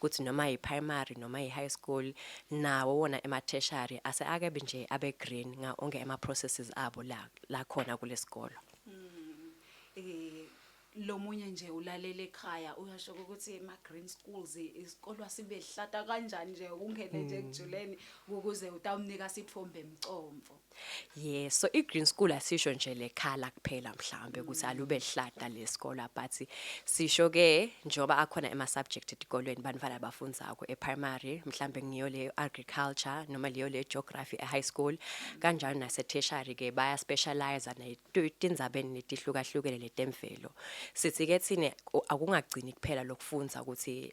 kuthi noma yi-primary noma yi-high school nawo wona ema-tertiary ase akabi nje abe-green nga onke ama-processes abo la la khona kulesikolo eh lomunye nje ulalela ekhaya uyasho ukuthi ema green schools isikolo sibe hlata kanjani nje ungene nje mm. ekujuleni ukuze utawunika sithombe emcomfo Yeah, so i-green school asisho nje lekhala kuphela mhlambe ukuthi alube lihlata lesikole but sisho ke njengoba akhona ema subject etikolweni banifana abafundako e-primary mhlambe ngiyo le agriculture noma leyo le geography e-high school kanjalo nase tertiary ke baya specialize netindzabeni letihlukahlukene letemvelo sithi ke thina ku- akungagcini kuphela lokufundza ukuthi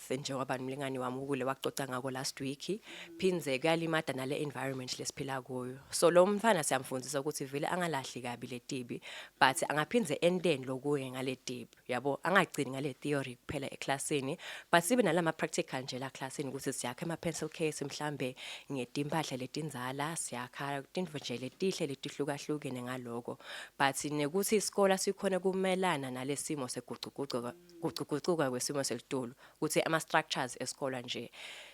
njengoba nomlingani wami ukule wacoca ngako last week phindze kuyalimada nale environment lesiphila kuyo so lo mfana siyamfundisa ukuthi vele angalahli kabi letibi but angaphindze enteni lokuye ngaletibi yabo angagcini ngale theory kuphela eclassini but sibe nalama practical nje la classini ukuthi siyakha ama pencil case mhlambe ngetimpahla letinzala siyakha tinto nje letihle letihlukahlukene ngaloko but nekuthi isikole sikhona kumelana nalesimo seguquguquko kuguquguquka kwesimo selitulu ukuthi ama structures esikole nje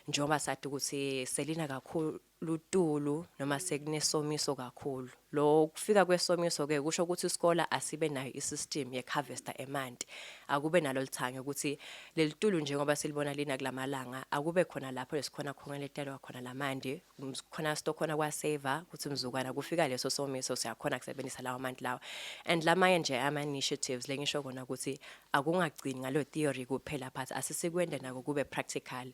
njengoba sathi ukuthi selina kakhulu lutulu noma sekunesomiso kakhulu lo kufika kwesomiso ke kusho ukuthi isikole asibe nayo isystem ye harvester emanti akube nalo lithange ukuthi lelitulu njengoba silibona lina kulamalanga akube khona lapho esikhona khona letelwa khona lamanti khona stokhona kwaseva ukuthi mzukwana kufika leso somiso siyakhona kusebenzisa lawo manti lawa and lamanye nje ama-initiatives le ngisho kona ukuthi akungagcini ngalo theory kuphela but asisikwende nako kube practical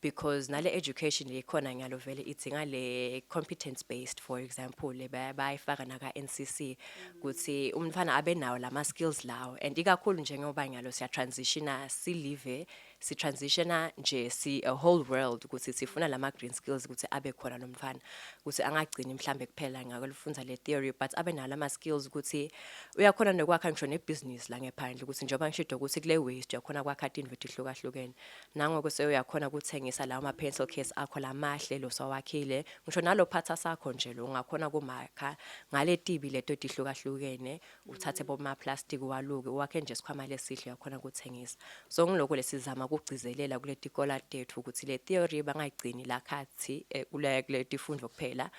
because nale education lekhona ngiyalo vele idzinga le competence based for example bayifaka naka NCC ukuthi umfana abe nawo lama skills lawo and ikakhulu njengoba ngiyalo siya transitiona si live si transitiona nje si a whole world ukuthi sifuna lama green skills ukuthi abe khona nomfana ukuthi angagcini mhlambe kuphela ngakolufunza le theory but abe nala ma skills ukuthi uyakhona nokwakha ngisho ne business la ngephandle ukuthi njengoba ngishido ukuthi kule waste uyakhona kwakha into ehlukahlukene nango kuse uyakhona ukuthengisa lawo ma pencil case akho lamahle lo sawakhile ngisho nalo phatha sakho nje lo ungakhona kumakha ngale tibi leto tihlukahlukene uthathe bomaplastiki uwaluke uwakhe nje isikhwama lesihle uyakhona ukuthengisa so ngilokho lesizama ukugcizelela kule tikola tethu ukuthi le theory bangayigcini la khathi eh, kule kule tifundo kuphela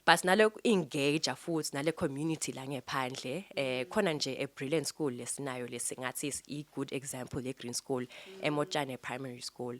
but nale engage futhi nale community la ngephandle eh khona nje a brilliant school lesinayo lesingathi i good example le green school emotshane primary school mm.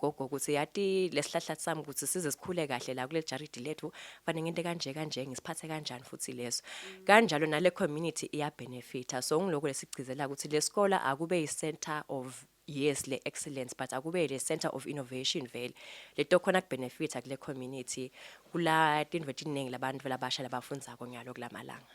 gogo ukuthi yati lesihlahla sami ukuthi size sikhule kahle la kuleli jaridi lethu fanele ngente kanje kanje ngisiphathe kanjani futhi leso mm. kanjalo nale community iya benefita so ngiloko lesigcizela ukuthi lesikole akube i center of yes le excellence but akube le center of innovation vele leto khona kubenefita kule community kula tindwe tiningi labantu labasha labafundzako nyalo kulamalanga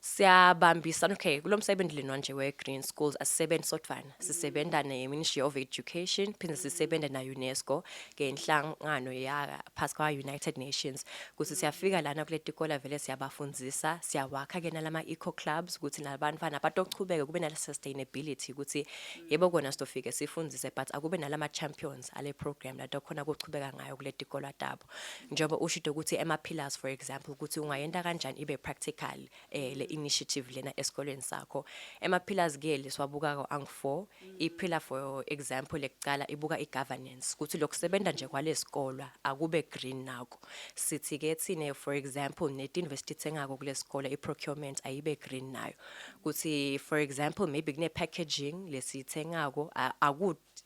siyabambisana okay kulo msebenzi lena nje we-green schools asisebenzi sodwana sisebenza ne-ministry of education phinde sisebenza na-unesco ngenhlangano yaphasi kwa-united nations ukuthi siyafika lana kule tikola vele siyabafundisa siyawakha-ke nalama-eco clubs ukuthi nabantwana batochubeke kube nale-sustainability ukuthi yebo kona sitofike sifundise but akube nalama-champions ale program latokhona kuchubeka ngayo kule tikolwa tabo njengoba ushide ukuthi ama-pillars for example ukuthi ungayenta kanjani ibe practical eh le initiative lena esikoleni sakho ama-pillars ke lesiwabukako angu-four i-pillar for example lekucala ibuka i-governance ukuthi lokusebenza nje kwalesikolwa akube green nako sithi ke thine for example netinvest ithengako kulesikole i-procurement ayibe green nayo ukuthi for example maybe kune-packaging lesiyithengako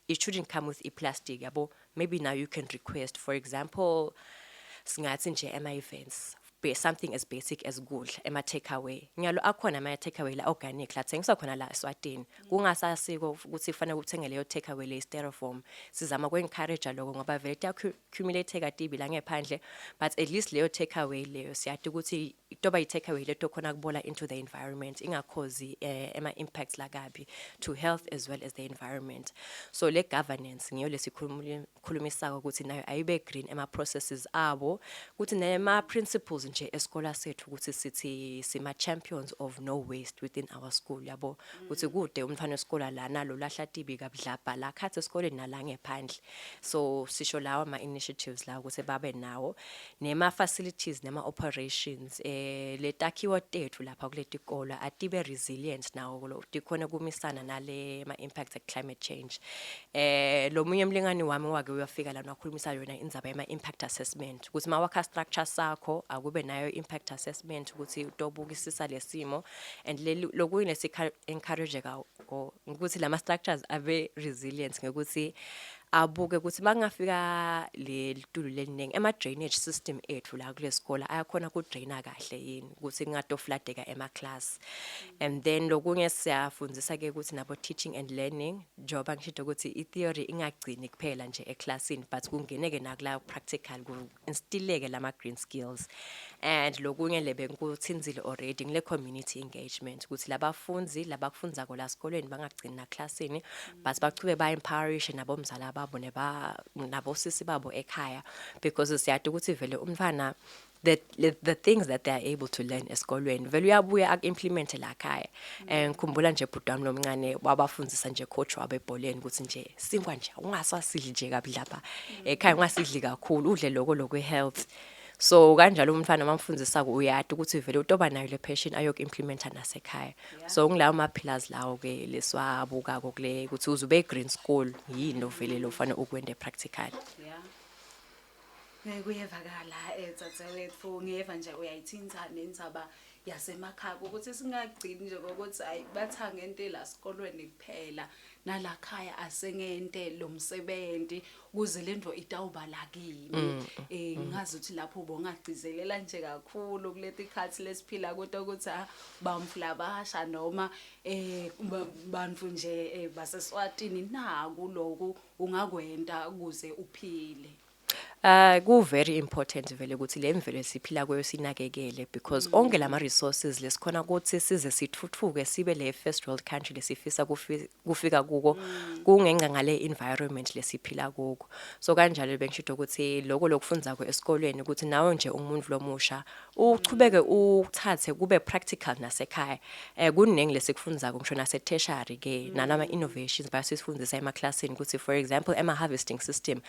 it shouldn't come with i-plastic yabo maybe now you can request for example singathi nje ema-events be something as basic as kudla ema-takeaway ngiyalo akhona ama-takeaway la organic la thengiswa khona la eswatini kungasasiko ukuthi kufanele uthenge leyo takeaway le styrofoam sizama ku-encourage loko ngoba vele kumele take atibi la ngephandle but at least leyo take away leyo siyati ukuthi toba i take away leto khona kubola into the environment ingakhozi eh, ema impacts la kabi to health as well as the environment so le governance ngiyo lesikhulumisako ukuthi nayo ayibe green ema processes abo ukuthi nema principles nje eskola sethu ukuthi sithi sima champions of no waste within our school yabo ukuthi kude umfana weskola lana lo lahla tibi kabudlabha la khathi esikoleni nala ngephandle so sisho lawa ama initiatives la ukuthi babe nawo nema facilities nema operations eh letakhiwo tethu lapha kuletikolo atibe resilient nawo kulo dikhona kumisana nale ma impacts of climate change eh lomunye umlingani wami wake uyafika lana wakhulumisa yona indzaba yema impact assessment ukuthi mawakha structure sakho akube nayo impact assessment ukuthi utobukisisa lesimo and lokuyine sikha encourage or ukuthi lama structures abe resilient ngokuthi abuke ukuthi makungafika lelitulu leliningi ama drainage system ethu la kulesikole ayakhona ku draina kahle yini ukuthi kungatofladeka ema class and then lokunye siyafundisa ke ukuthi nabo teaching and learning njengoba ngishito ukuthi i theory ingagcini kuphela nje e classini but kungeneke nakula practical ngistileke lama green skills and lokunye le bengikuthinzile already ngile community engagement ukuthi labafundi labakufundza kola sikolweni bangagcini na classini but bachube ba empowerish nabo mzala babo neba nabo sisi babo ekhaya because siyade ukuthi vele umfana the the things that they are able to learn esikolweni vele uyabuya akuimplement la khaya and ngikhumbula nje bhuti wami lomncane wabafundisa nje coach wabo ebholeni ukuthi nje sinkwa nje ungasasidli nje kabi lapha ekhaya ungasidli kakhulu udle lokho lokwe health so kanjalo umfana mamfundisa uyati ukuthi vele utoba nayo le passion ayoku implementa nasekhaya so ngilawo ma pillars lawo ke leswabuka kokule ukuthi uzube green school yini ovele lo mfana ukwende practical yeah. Eh, kuyevakala edzadzewetfu eh, ngiyeva nje uyayithinta nenzaba yasemakhaya ukuthi singagcini nje kokuthi hayi bathange into la sikolweni kuphela nala khaya asengente lo msebenzi ukuze le nto itawuba la kimi um ngazi ukuthi lapho ubongagcizelela nje kakhulu kuleti khathi lesiphila kodwa ukuthi ah, bamfulabasha noma um bantu nje baseswatini naku loku ungakwenta kuze uphile. Uh ku very important vele ukuthi le mvelo esiphila kuyo sinakekele because mm. onke lama resources lesikhona ukuthi size sithuthuke sibe le first world country lesifisa kufika kuko mm. kungenxa ngale environment lesiphila kuko so kanjalo bengisho ukuthi lokho lokufundza ko esikolweni ukuthi nawe nje umuntu lomusha uchubeke uthathe kube practical nasekhaya eh kuningi lesikufundako ngisho nase tertiary ke nalama innovations bayasifundisa ema classini ukuthi for example ema harvesting system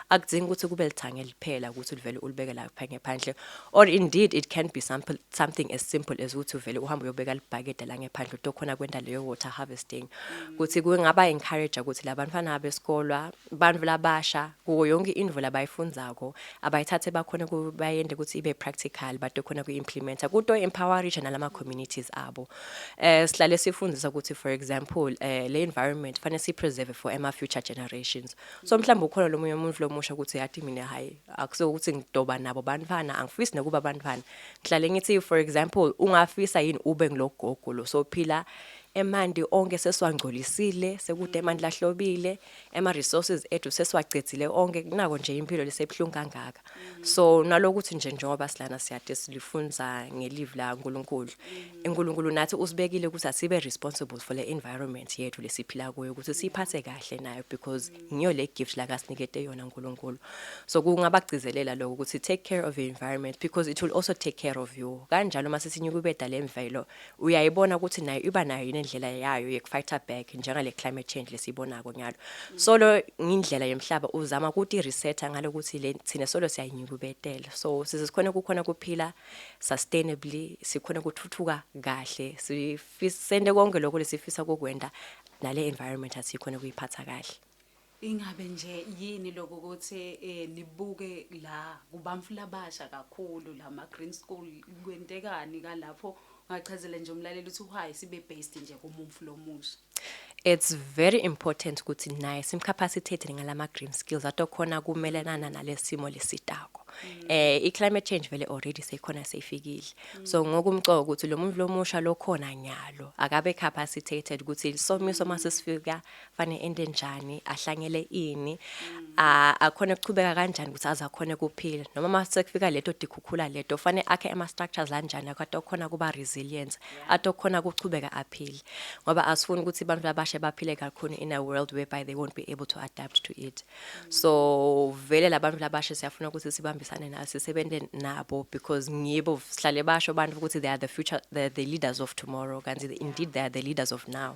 akudingi ukuthi kube lithange liphela ukuthi ulivele ulibeke la phanye phandle or indeed it can be something something as simple as ukuthi uvele uhamba uyobeka libhakede la ngephandle utokhona kwenda leyo water harvesting ukuthi kungaba encourage ukuthi labantwana besikolo abantu labasha kuyo yonke indvo labayifundako abayithathe bakhona bayende ukuthi ibe practical bade khona ku-implementa kuto empowerisha nalama communities abo eh sihlale sifundisa ukuthi for example eh le environment fanele si preserve for ama future generations so mhlawumbe ukhona lo munye umuntu lomusha ukuthi yathi mina hayi akuso ukuthi ngidoba nabo bantwana angifisi nokuba bantwana ngihlale ngithi for example ungafisa yini ube ngilogogo lo sophila emandi onke sesiwangcolisile sekude emandi lahlobile ema resources ethu sesiwacedzile onke kunako nje impilo lesebuhlungu kangaka so nalokuthi nje njengoba silana siyade silifunza ngelive la uNkulunkulu uNkulunkulu nathi usibekile ukuthi asibe responsible for the environment yethu lesiphila kuyo ukuthi siphathe kahle nayo because ngiyo le gift la kasinikete yona uNkulunkulu so kungabagcizelela lokho ukuthi take care of your environment because it will also take care of you kanjalo uma sesinyukubeda lemvelo uyayibona ukuthi nayo iba nayo yini indlela yayo yekufighter back njengale climate change lesiyibonako nyalo solo ngindlela yemhlaba uzama ukuthi resetter ngalokuthi le thina solo siyayinyukubetela so size sikhona kukhona kuphila sustainably sikhona kuthuthuka kahle sifisende konke lokho lesifisa kokwenda nale environment asikhona kuyiphatha kahle Ingabe nje yini lokho ukuthi eh, nibuke la kubamfula abasha kakhulu la ma-green school kwentekani kalapho ngachazela nje umlaleli ukuthi why sibe based nje kumumfu lomusha it's very important ukuthi naye simcapacitated ngalama green skills atokhona kumelelana nalesimo lesitako mm. eh i climate change vele already seyikhona seyifikile mm. so ngokumcoka ukuthi lo muntu lomusha lokhona nyalo akabe capacitated ukuthi isomiso masisifika fane ende njani ahlangele ini a- akhone kuchubeka kanjani ukuthi aze akhone kuphila noma uma sekufika leto dikhukhula leto fane akhe ama structures anjani akade okhona kuba resilient atokhona kuchubeka aphile ngoba asifuni ukuthi abantu labashe baphile kakhulu in a world whereby they won't be able to adapt to it so vele labantu labashe siyafuna ukuthi sibambisane nabo sisebenze nabo because ngibo sihlale basho abantu ukuthi they are the future the, the leaders of tomorrow kanti indeed they are the leaders of now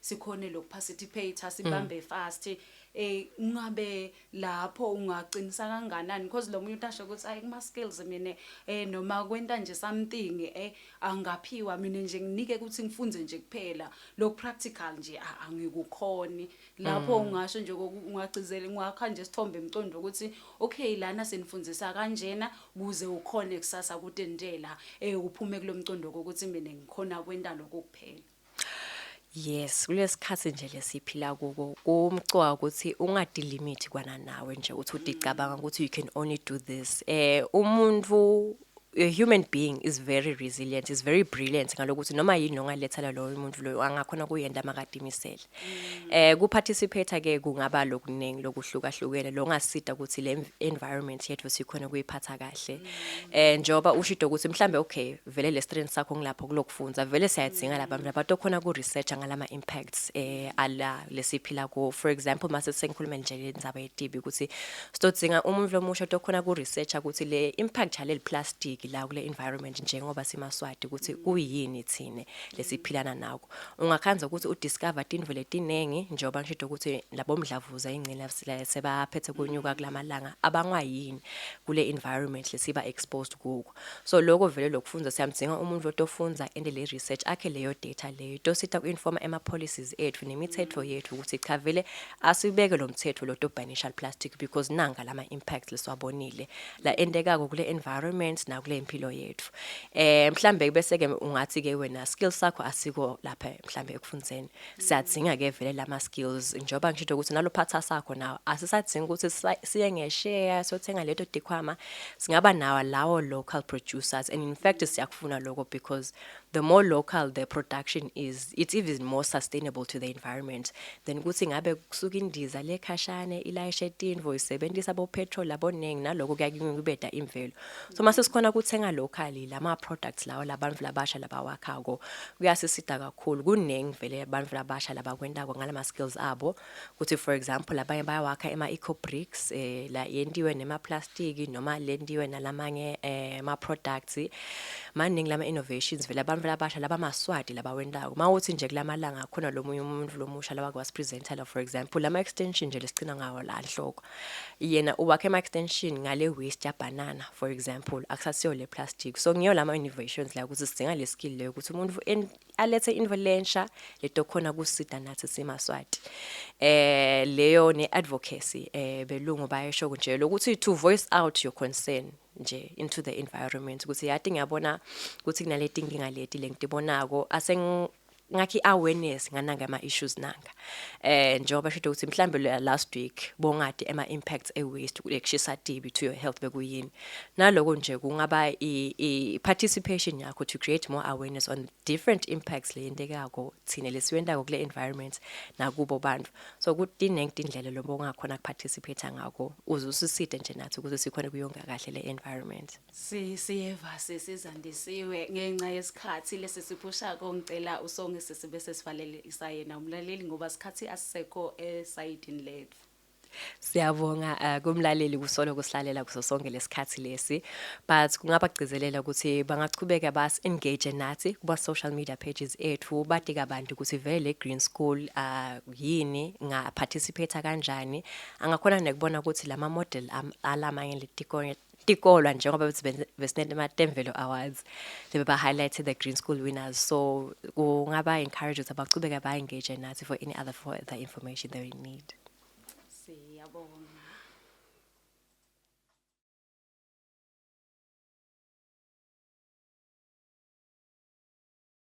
sikhone lokuparticipate sibambe mm. fast eh ungabe lapho ungaqinisa kanganani because lo muntu asho ukuthi ayi kuma skills mina eh noma kwenta nje something eh angaphiwa mina nje nginike ukuthi ngifunde nje kuphela lo practical nje angikukhoni lapho mm. ungasho nje ungagcizela ngwakha nje sithombe emcondo ukuthi okay lana senifundisa kanjena kuze ukhone kusasa kutendela eh uphume kulomcondo ukuthi mina ngikhona kwenta lokho kuphela Yes, kulesikhathi nje lesiphila kuko kumcoka ukuthi ungadi limit kwana nawe nje uthi udicabanga ukuthi you can only do this. Eh umuntu a human being is very resilient, is very brilliant ngalokuthi noma yini ongaletha loyo muntu loyo angakhona kuyenda makadimisele. Eh ku participate ke kungaba lokuningi lokuhlukahlukene longasida ukuthi le environment yethu sikhona kuyiphatha kahle. Eh njoba ushido ukuthi mhlambe okay vele le strength sakho ngilapho kulokufunza vele siyadzinga laba mna bato khona ku research ngalama impacts eh ala lesiphila ku for example mase sengikhuluma nje le ndzaba yetibi ukuthi sidodzinga umuntu lomusha tokhona ku research ukuthi le impact yale plastic la kule environment njengoba simaswati ukuthi kuyini thina lesiphilana nako. Ungakhanza ukuthi udiscover tinvo letiningi njengoba ngishito ukuthi labomdlavuza ingcina sebaphethe kunyuka kulamalanga abangwa yini kule environment lesiba exposed kuko. So lokho vele lokufundza siyamdzinga umuntu lotofundza ende le research akhe leyo data leyo itosita kuinforma ema policies ethu nemithetho yethu ukuthi cha vele asibeke lo mthetho lotobhanisha plastic because nanga lama impacts lesiwabonile la endekako kule environment nakule impilo yethu. eh mhlambe bese ke ungathi ke wena skills sakho asiko lapha mhlambe ekufundiseni siyadzinga ke vele lama skills njoba ngisho ukuthi nalophatha sakho nawo asisadzinga ukuthi siye ngeshare sothenga leto dikhwama singaba nawo lawo local producers and in fact siyakufuna lokho because the more local the production is, it's even more sustainable to the environment than ukuthi ngabe kusuka indiza lekhashane ilayishe tinvo isebenzisa bopetrol aboningi naloko kuyakuncubeda imvelo so mase sikhona kuthenga locally lama products lawo labantu labasha labawakhako kuyasisida kakhulu kuningi vele abantu labasha labakwentako ngalama skills abo ukuthi for example abanye bayawakha ema eco bricks eh la yentiwe nema plastic noma lentiwe nalamanye eh ma products maningi lama innovations vele abantu labasha labamaswati labawentako mawuthi nje kulamalanga khona lomunye umuntu lomusha lawake wasipresenter la for example lama extension nje lesigcina ngawo la nhloko yena uwakhe ama extension ngale waste ya banana for example akusasiyo le plastic so ngiyo lama innovations la ukuthi sidinga le skill leyo ukuthi umuntu alethe into lensha leto khona kusida nathi simaswati eh leyo ne advocacy eh belungu bayesho nje lokuthi to voice out your concern nje into the environment ukuthi yati ngiyabona ukuthi kunaleti inkinga leti lengitibonako aseng ngakhi awareness ngananga ama issues nanga eh njengoba shode ukuthi mhlambe lo last week bongade ema impacts e waste ukushisa tibi to your health bekuyini naloko nje kungaba i participation yakho to create more awareness on different impacts leyendekako thina lesiwendako kule environment nakubo bantu so kuthi nengti indlela lobo ngakhona ku participate ngako uze usiside nje nathi ukuze sikhona kuyonga kahle le environment Si siyeva sesizandisiwe ngenxa yesikhathi lesi siphusha kongicela usonge sisi bese sivalele isayena umlaleli ngoba sikhathi asisekho esayidini lethu. Siyabonga uh, kumlaleli kusolo kusilalela kuso sonke lesikhathi lesi but kungabagcizelela ukuthi bangachubeka bas engage nathi kuba social media pages ethu batika abantu ukuthi vele Green School uh, yini nga participate kanjani angakhona nekubona ukuthi lama model um, alamanye letikole tikolwa njengoba bethi besinete ama-temvelo awards bebe ba-highlighte the green school winners so kungaba encourage ukuthi abachubeke ba-engage nathi for any other for the information they need siyabonga